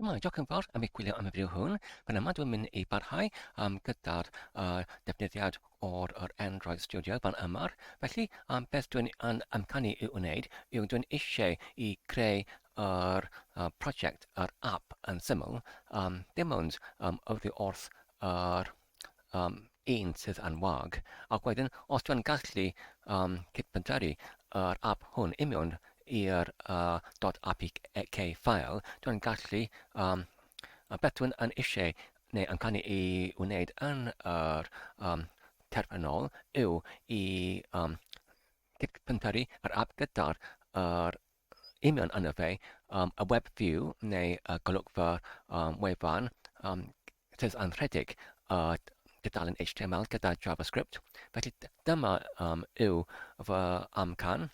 Dyma i Docyn Fawr am ei gwylio am y fideo hwn. Fan yma dwi'n mynd i barhau um, gyda'r uh, defnyddiad o'r or Android Studio fan yma. Felly, um, beth dwi'n yn amcanu i wneud yw dwi'n eisiau i creu yr uh, prosiect, yr app yn syml, um, dim ond um, oddi wrth yr uh, um, un sydd yn wag, ac wedyn os dwi'n gallu um, cydpentaru yr app hwn i mewn i'r uh, .apk ffael, dwi'n gallu um, beth dwi'n yn eisiau neu yn canu i wneud yn yr um, terfynol yw i um, cydpentaru yr app gyda'r er, Ymuno yno fe, um, y web view neu y golygfa um, wefan um, sydd yn rhedeg a dudalen HTML gyda JavaScript. Felly dyma um, yw fy amcan.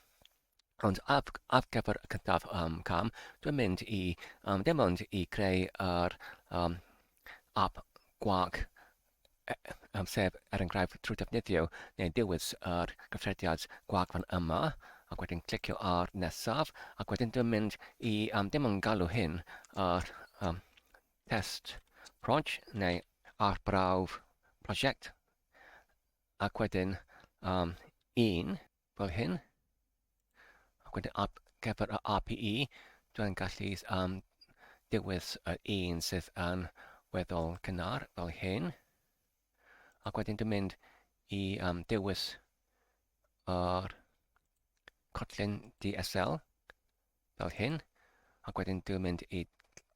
Ond af, af gyfer y cyntaf um, cam, dwi'n mynd i um, dim ond i creu yr um, app gwag amser, er enghraifft, trwy defnyddio neu ddewis yr gyffrediad gwag fan yma, ac wedyn clicio ar nesaf, ac wedyn dwi'n mynd i, um, dim ond galw hyn, yr um, test proj, neu arbrawf prosiect, ac wedyn um, un, fel hyn. Ac wedyn ar gyfer y API, dwi'n gallu um, dewis yr un sydd yn weddol cynnar fel hyn. Ac wedyn dwi'n mynd i um, dewis yr cotlyn DSL fel hyn. Ac wedyn dwi'n mynd i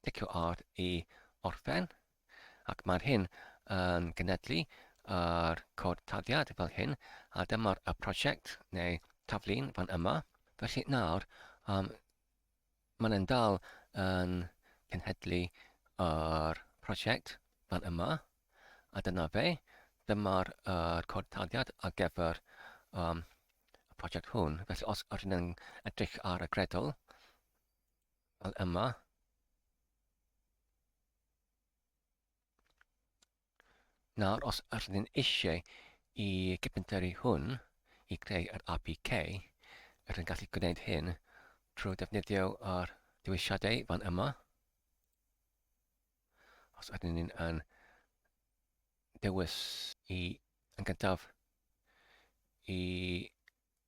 dicio ar i orffen. Ac mae'r hyn yn gynhedlu yr cod taddiad fel hyn, a dyma'r y prosiect neu taflun fan yma. Felly nawr, um, mae'n yn dal yn cynhedlu yr prosiect fan yma, a dyna fe. Dyma'r uh, cod taddiad ar gyfer um, y prosiect hwn. Felly os ydyn yn edrych ar y gredol, fel yma, Nawr, os ydyn ni'n eisiau i gypenteri hwn i greu yr APK, rydyn ni'n gallu gwneud hyn trwy defnyddio ar dewisiadau fan yma. Os ydyn ni'n yn dewis i yn gyntaf i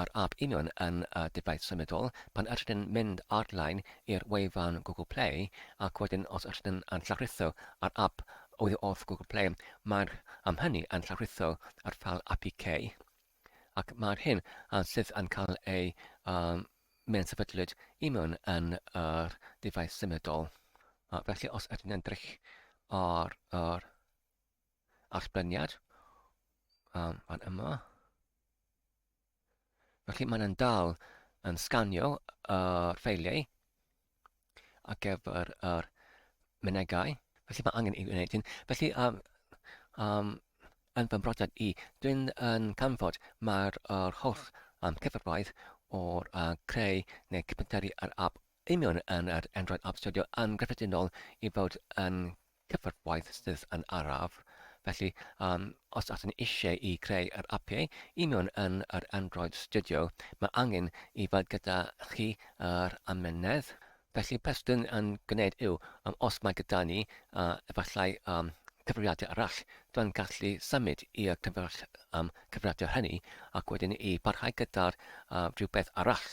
Yr ap union yn y defaid symudol, pan ydyn yn mynd ar-lein i'r wefan Google Play, ac wedyn os ydyn yn yn llawrlwytho yr ap oddi wrth Google Play, mae'r am hynny yn llawrlwytho yr ffal apk, ac mae'r hyn yn sydd yn cael ei um, mewn sefydlwyd i mewn yn yr defaid symudol. Uh, felly os ydyn yn drych ar yr allbeniad um, fan yma. Felly mae'n dal yn sganio y ffeiliau ar gyfer yr mynegau. Felly mae angen i wneud hyn. Felly, um, um, yn fy mhrodiad i, dwi'n yn canfod mae'r er holl um, cyfrfaith o'r uh, creu neu cypenteri ar app union yn yr Android App Studio yn gyffredinol i fod yn cyfarfodydd sydd yn araf, felly um, os ydyn ni eisiau i greu yr apiau i mewn yn yr Android Studio, mae angen i fod gyda chi yr amynedd. Felly beth dyn yn gwneud yw, um, os mae gyda ni uh, efallai um, cyfrifiadur arall, dwi'n gallu symud i'r cyfrifiadur um, hynny ac wedyn i barhau gyda'r uh, rhywbeth arall.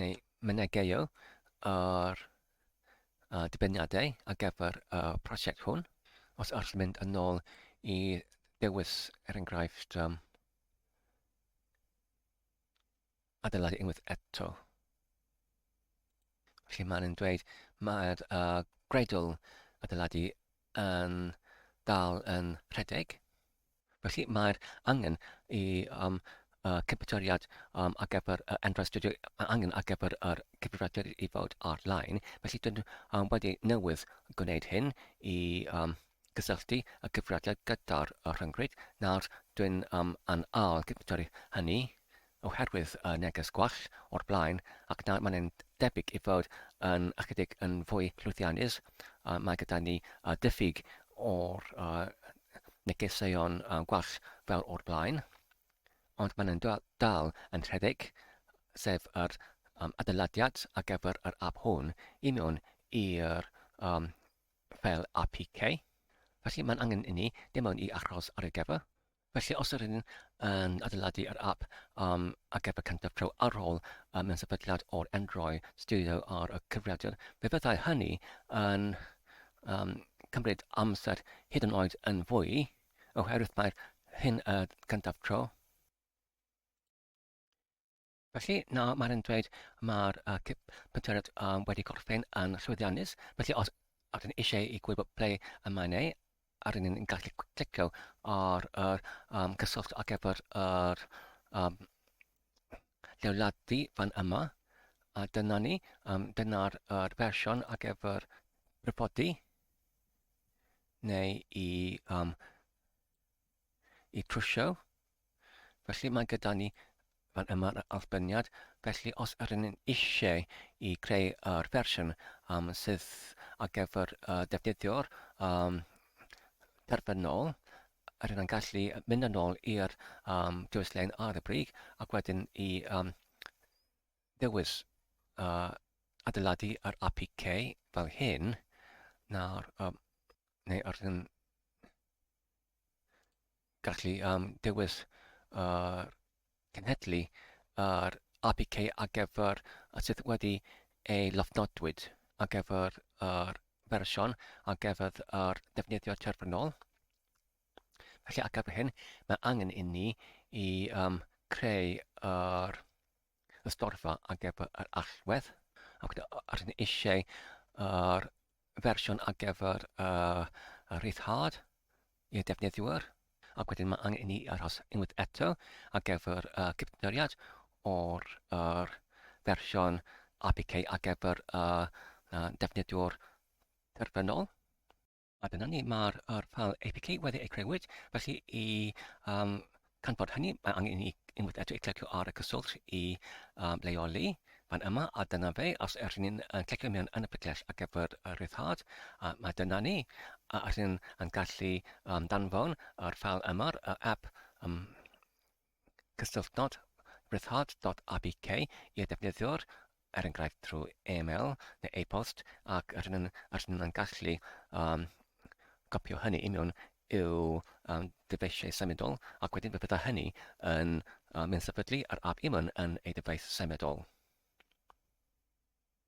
neu mynegeio ar uh, dibyniadau ar gyfer y uh, prosiect hwn. Os allwn mynd yn ôl i dewis, er enghraifft, um, adeiladu unwaith eto. Felly mae'n dweud mae'r uh, greidl adeiladu yn dal yn rhedeg. Felly mae'r angen i um, uh, cyfetoriad um, ar gyfer uh, Enterprise Studio, mae angen ar gyfer yr uh, cyfrifiadur i fod ar-lein. Felly dyn um, wedi newydd gwneud hyn i um, gysylltu y cyfrifiadur gyda'r uh, rhyngrwyd. Nawr dwi'n um, yn ail cyfetori hynny oherwydd y neges gwall o'r blaen ac nawr mae'n debyg ei fod yn ychydig yn fwy llwyddiannus, mae gyda ni ddiffyg o'r negeseuon gwall fel o'r blaen, ond mae'n dal yn rhedeg, sef yr adeiladiad ar gyfer yr app hwn i mewn i'r ffeil APK, felly mae'n angen inni dim ond i achos ar ei gyfer. Felly os yr ydyn yn adeiladu yr app um, ac ef y cyntaf pro ar ôl um, mewn sefydliad o'r Android Studio ar y cyfrifiadur, fe fyddai hynny yn um, cymryd amser hyd yn oed yn fwy, oherwydd mae'r hyn y cyntaf pro. Felly, na, mae'n yn dweud mae'r uh, penteriad um, wedi gorffen yn llwyddiannus. Felly, os ydyn eisiau i gwybod ble y mae'n ei, ar un yn gallu clicio ar yr um, cyswllt ar gyfer yr um, lleoladu fan yma. A dyna ni, um, dyna'r er fersiwn ar gyfer brifodi neu i um, y prisiau. Felly mae gyda ni fan yma'r allbyniad, felly os yr yn eisiau i greu yr fersiwn um, sydd ar gyfer uh, defnyddio'r um, terfynol, yr yn gallu mynd yn ôl i'r um, dewis-lein ar y brig ac wedyn i um, ddewis uh, adeiladu yr APK fel hyn, nawr, um, neu yr yn gallu um, dewis yr cenhedlu yr APK ar gyfer y sydd wedi ei lofnodwyd ar gyfer yr fersiwn ar gyfer yr defnyddio terfynol. Felly ar gyfer hyn, mae angen inni i um, creu yr y storfa ar gyfer yr allwedd ac rydyn ni eisiau yr fersiwn ar gyfer uh, y rhyddhad i'r defnyddwyr ac wedyn mae angen i ni aros unwaith eto ar gyfer uh, cyfnoriad o'r er, fersiwn APK ar gyfer uh, uh, defnyddwyr terfynol. Mae gyda ni, mae'r er ffael APK wedi ei creuwyd, felly i um, canfod hynny, mae angen i unwaith eto i clicio ar y cyswllt i um, leoli fan yma, a dyna fe, os ydych ni'n uh, clicio mewn yn y picell ar gyfer y rhyddhad, uh, mae dyna ni, a ydych ni'n gallu um, danfon yr ffael yma'r uh, app um, cysylltodd Ryddhad.apk i'r defnyddiwr, er enghraifft trwy e-mail neu e-bost, ac yr hyn yr hyn yn gallu um, copio hynny i mewn i'w um, dyfeisiau symudol, ac wedyn fe fydda hynny yn uh, mynd sefydlu yr app i mewn yn ei dyfais symudol.